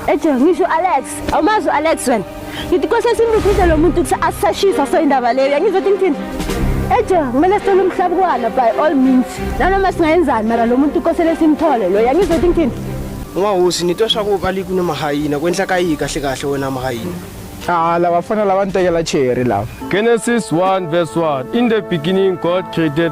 Eje ngisho Alex, awumazi Alex wena. Ngithi kose simbuthise lo muntu ukuthi asashisa so indaba leyo. Ngizothi ngithini? Eje kumele sicela umhlaba kwana by all means. Nanoma singayenzani mara lo muntu kosele simthole lo. Ngizothi ngithini? Ungahosi nitosha ko kali kunemahayina kwenhla kayi kahle kahle wena mahayina. Ah, laba fana laba ntekela cherry laba. Genesis 1 verse 1 In the beginning God created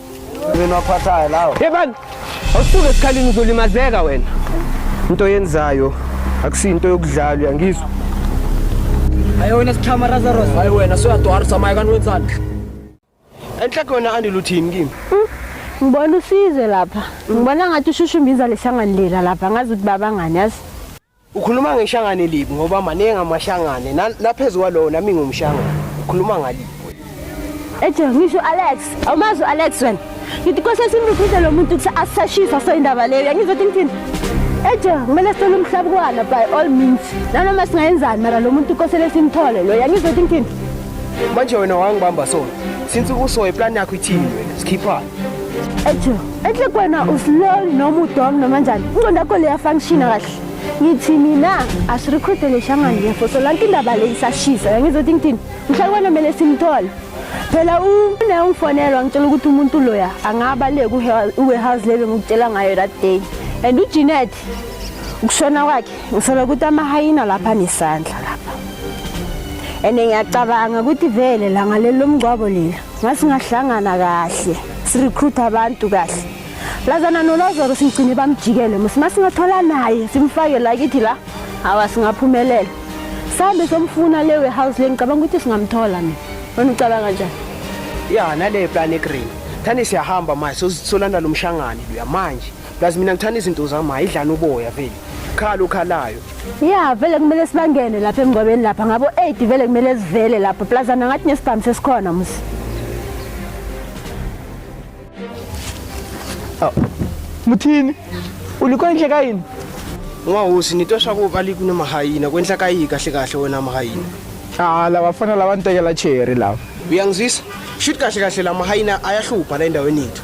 Mina waphathayo lawo. Yebani. Awusuke esikhalini uzolimazeka wena. Into yenzayo akusinto yokudlalwa yangizwa. Hayi wena sichama Lazarus. Hayi wena soyadwara samaya kanti wenzani? Enhle kona andi luthini kimi. Hmm? Ngibona usize lapha. Ngibona ngathi ushushu imbiza lehlangani lela lapha ngazi ukuthi babangani yazi. Ukhuluma ngeshangane libi ngoba maningi amashangane naphezu kwalowo nami ngumshangane. Ukhuluma ngalibi. Eje ngisho Alex, awumazi Alex wena. Ngithi kwase simbiphise lo muntu ukuthi asashisa so indaba leyo. Yangizothi ngithini? Eje kumele sicela umhlaba kwana by all means. Nanoma singayenzani mara lo muntu kosele simthole lo. Yangizothi ngithini? Manje wena wangibamba so. Since ukusoye plan yakho ithini wena? Sikhiphani? Ejo, enhle kwena uslol noma udom noma njani. Inqondo yakho leya function kahle. Ngithi mina asirecruite leshangane yefo so lanto indaba le isashisa. Ngizothi ngithini? Mhlawumbe wena kumele simthole. Phela une ungifonelwa ngitshela ukuthi umuntu loya angaba le ku warehouse lebe ngikutshela ngayo that day. And uJinet ukushona kwakhe ngisola ukuthi amahayina lapha nesandla lapha. And ngiyacabanga ukuthi vele la ngalelo mngcwabo leli ngasingahlangana kahle sirecruit abantu kahle lazana nolozoro simgcine bamjikele musi masingathola naye simfake la kithi la hawa singaphumelela sambe somfuna le warehouse le ngicabanga ukuthi singamthola mina wena ucabanga njani ya nale plan egreen thani siyahamba manje sosolanda lo mshangane luya manje Plus mina ngithanda izinto zami ayidlana uboya vele. Khala ukhalayo. Yeah, vele kumele sibangene lapha emngcwabeni lapha ngabo 8 vele kumele sivele lapha. Plus ana ngathi nesibhamu sesikhona musi. Oh. Muthini? Uliko inhle kayini? Ungahosi nitosha kuba likune mahayina kwenhla kayi kahle kahle wena mahayina. Ah, laba fana laba ntekela cherry laba. Uyangizwisa? Shuthi kahle kahle la mahayina ayahlupha la endaweni yethu.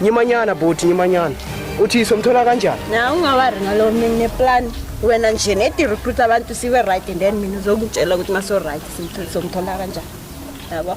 Nyimanyana bhuti nyimanyana. Uthi somthola kanjani? Na ungawari ngalo mine plan wena nje nedi recruit abantu siwe right and then mina uzokutshela ukuthi maso right simthola somthola kanjani. Yabo.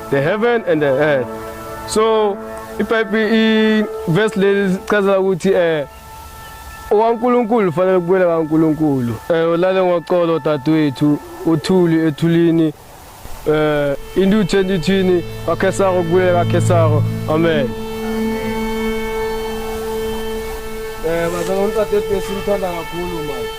the heaven and the earth so ibhayibheli ivesi leli lichazela ukuthi eh owankulunkulu ufanele kubuyela kankulunkulu eh ulale ngoxolo dadewethu uthuli ethulini eh into uthanda ithini kakhesaro kubuyela kakhesaro amen eh bazalwane dadewethu simthanda kakhulu manje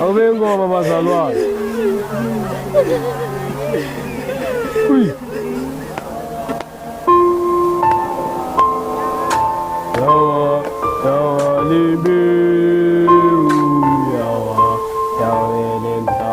Awube ngoma bazalwane. Uy. Yawa, yawa libiu, yawa, yawa lenza.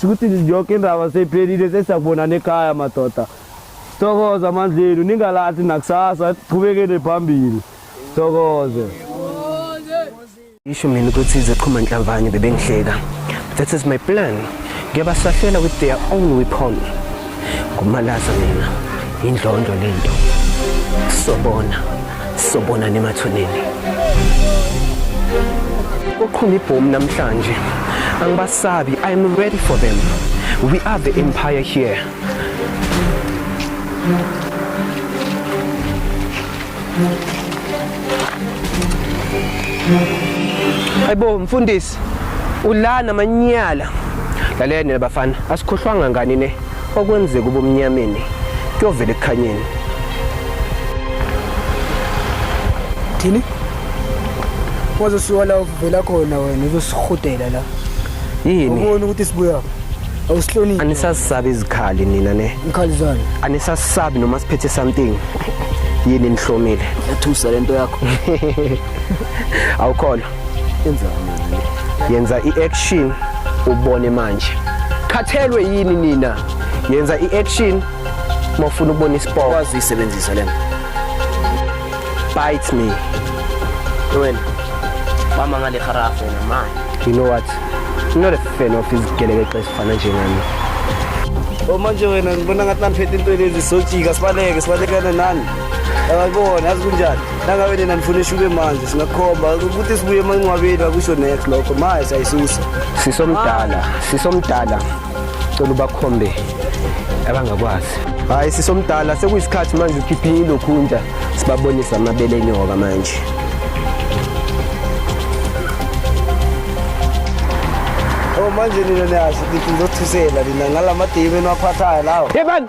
Sikuthi yoke indaba seyiphelile sesiyakubonana ekhaya madoda. Sithokoza amandlenu ningalahli nakusasa qhubekele phambili. Sithokoze. Isho mina ukuthi iziqhuma nhlamvane bebengihleka. That is my plan. Ngiyabasahlela with their own weapon. Ngumalaza mina. Indlondlo lento. Sobona. Sobonana emathuneni. Kuqhuma ibhomu namhlanje. Angibasabi. I am ready for them. We are the empire here. Hayibo mfundisi ulana manyala lalene bafana asikhohlwanga ngani ne okwenzeka ubumnyameni kuyovela ekukhanyeni thini waze usuka la uvela khona wena uzosihudela la yini ubona ukuthi sibuya awusihloniphi anisasabi izikhali nina ne ikhali zani anisasabi noma siphethe something yini nihlomile yathusa lento yakho awukholwa yenza i-action ubone manje khathelwe yini nina yenza i-action uma ufuna ukubona isipoko kwazi uyisebenzisa lena bite me wena bama ngale kharafu wena manje you know what I'm not a fan of izigelekeqe ezifana njengami Oh manje wena ngibona ngathi namphethe into lezi sojika sibaleke sibalekane nani. Yabona yazi kunjani? nangabe nina nifuna ishuke manje singakhomba ukuthi sibuye emancwabeni akusho next lokho maye sayisusa sisomdala sisomdala cela ubakhombe abangakwazi hayi sisomdala sekuyisikhathi manje ukhiphe ilokhunja sibabonisa amabele enyoka manje oh manje nina niyazi ngizothusela nina ngala madimi eniwaphathayo lawo yebani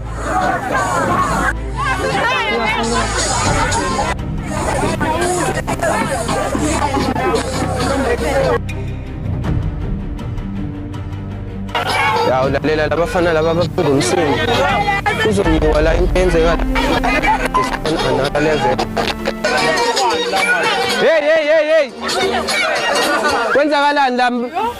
Ya ulalela labafana laba abafunda umsindo. Kuzongiwa la into yenzeka. Analyze. Hey hey hey hey. Kwenzakalani la